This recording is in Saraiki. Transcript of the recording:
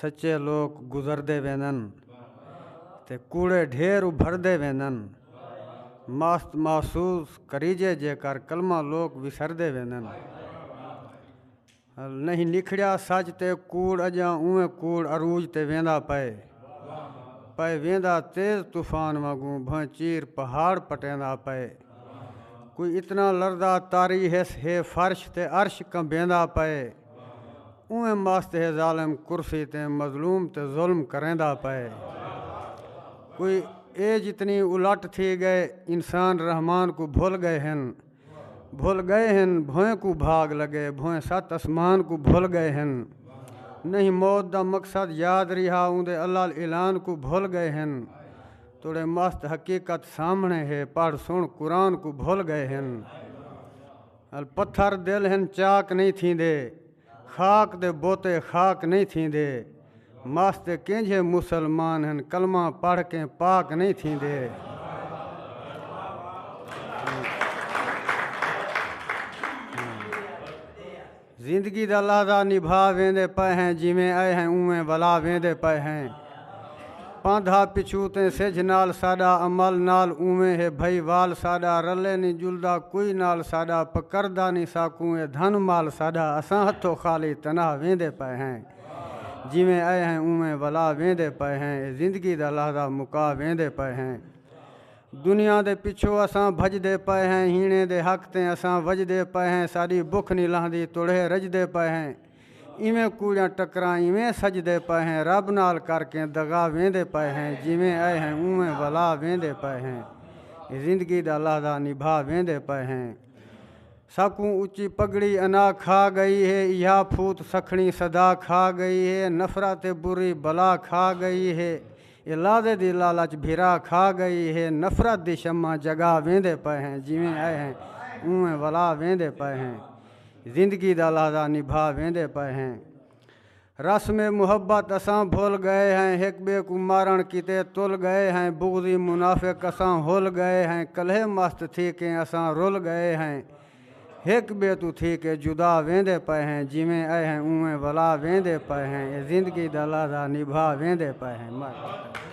سچے لوک گزردے ویندن تے کوڑے ڈھیر ابھردے ویندن مست محسوس کریجے جیکر کلمہ لوک وسردے ویندن نہیں نکھڑیا سچ تے کوڑ اجاں اوویں کوڑ عروج تے ویندا پئے پئے ویندا تیز طوفان وانگوں بھویں چیر پہاڑ پٹیندا پئے کوئی اتنا لرزا طاری ہس ہے فرش تے عرش کمبیندا پئے۔ اوئیں مست ہے ظالم کرسی تے مظلوم تے ظلم کریندا پئے کوئی اے جتنی الٹ تھی گئے انسان رحمان کوں بھل گئے ہن بھل گئے ہن بھوئیں کوں بھاگ لگے بھوئیں ست اسمان کوں بھل گئے ہن نہیں موت دا مقصد یاد ریہا اوندے الال اعلان کوں بھل گئے ہن توڑے مست حقیقت سامھنے ہے پڑھ سن قرآن کوں بھل گئے ہن۔ ال پتھر دل ہن چاک نئیں تھیندے خاک دے بوتے خاک نئیں تھیندے مس تے کینجھے مسلمان ہن کلمہ پڑھ کے پاک نئیں تھیندے زندگی دا لحظہ نبھا ویندے پئے ہیں جیویں ائے ہیں اونویں ولا ویندے پئے ہیں پاندھا پچھوں تیں سجھ نال ساڈا عمل نال اونویں ہے بھئی وال ساڈا رلے نی جلدا کوئی نال ساڈا پکردا نی ساکوں اے دھن مال ساڈا اساں ہتھوں خالی تنہا ویندے پئے ہیں جیویں ائے ہیں اونویں ولا ویندے پئے ہیں اے زندگی دا لحظہ مکا ویندے پئے ہیں۔ دنیا دے پچھو اساں بھجدے پئے ہیں ہیݨیں دے حق تیں اساں وجدے پئے ہیں ساݙی بکھ نی لہندی تڑھے رجدے پئے ہیں ایویں کوڑیاں ٹکراں ایویں سجدے پئے ہیں رب نال کر کیں دغا ویندے پئے ہیں جیویں ائے ہیں اونویں ولا ویندے پئے ہیں زندگی دا لحظہ نبھا ویندے پئے ہیں ساکوں اچی پگڑی انا کھا گئی ہے ایہا پھوت سکھڑیں صدا کھا گئی ہے نفرت برری بلا کھا گئی ہے اے لازے دی لالچ بھرا کھا گئی ہے نفرت دی شمع جگا ویندے پئے ہیں جیویں ائے ہیں اونویں ولا ویندے پئے ہیں زندگی دا لازہ نبھا ویندے پئے ہیں رسم محبت اساں بھل گئے ہیں ہک بے کوں مارن کیتے تل گئے ہیں بغضی منافق اساں ہل گئے ہیں کلہے مست تھی کیں اساں رل گئے ہیں ہک ٻئے توں تھی کے جدا ویندے پئے ہیں جیویں اے ہیں اونویں ولا ویندے پئے ہیں اے زندگی دا لحظہ نبھا ویندے پئے ہیں۔